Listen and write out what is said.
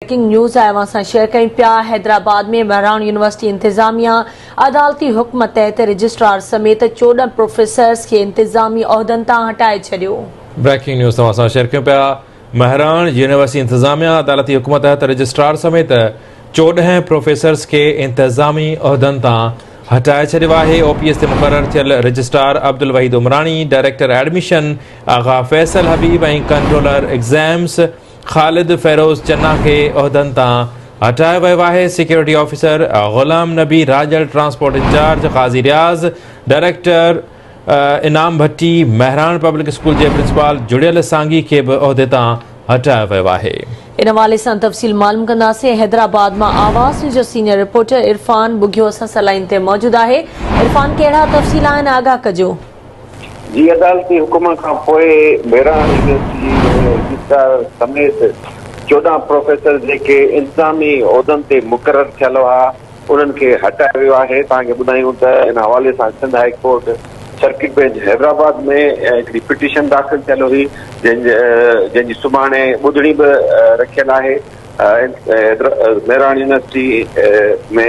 Breaking news آء اوهان سان شيئر ڪيون پيا حيدرآباد ۾ مهراڻ يونيورسٽي انتظاميا عدالتي حڪم تحت رجسٽرار سميت چوڏهن پروفيسرز کي انتظامي عهدن تان هٽائي ڇڏيو. بريڪنگ نيوز توهان سان شيئر ڪيون پيا مهراڻ يونيورسٽي انتظاميا عدالتي حڪم تحت رجسٽرار سميت چوڏهن پروفيسرز کي انتظامي عهدن تان هٽائي ڇڏيو آهي او پي ايس تي مقرر ٿيل registrar Abdulwahid Umrani director admission Agha Faisal Habib ۽ controller exams Khalid Feroz Channa کي عهدن تان هٽايو ويو آهي، security officer Ghulam Nabi Rajar, transport in charge Qazi Riaz, director Inam Bhatti, Mehran public school جي پرنسپال جڙيل سانگي کي به عهدي تان هٽايو ويو آهي. ان حوالي سان تفصيل معلوم ڪنداسين. حيدرآباد مان آواز نيوز جو سينئر رپورٽر عرفان ٻگهيو اسان سان لائين تي موجود آهي عرفان ڪهڙا تفصيل آهن آگاهه ڪجو. جي عدالتي حڪم کان پوء ميران يونيورسٽي جي رجسٽرار سميت چوڏهن پروفيسر جيڪي انتظامي عهدن تي مقرر ٿيل هئا انهن کي هٽايو ويو آهي توهان کي ٻڌايون ته ان حوالي سان Sindh high court circuit bench Hyderabad ۾ هڪڙي پٽيشن داخل ٿيل هئي جنهن جنهن جي سڀاڻي ٻڌڻي به رکيل آهي ميران يونيورسٽي ۾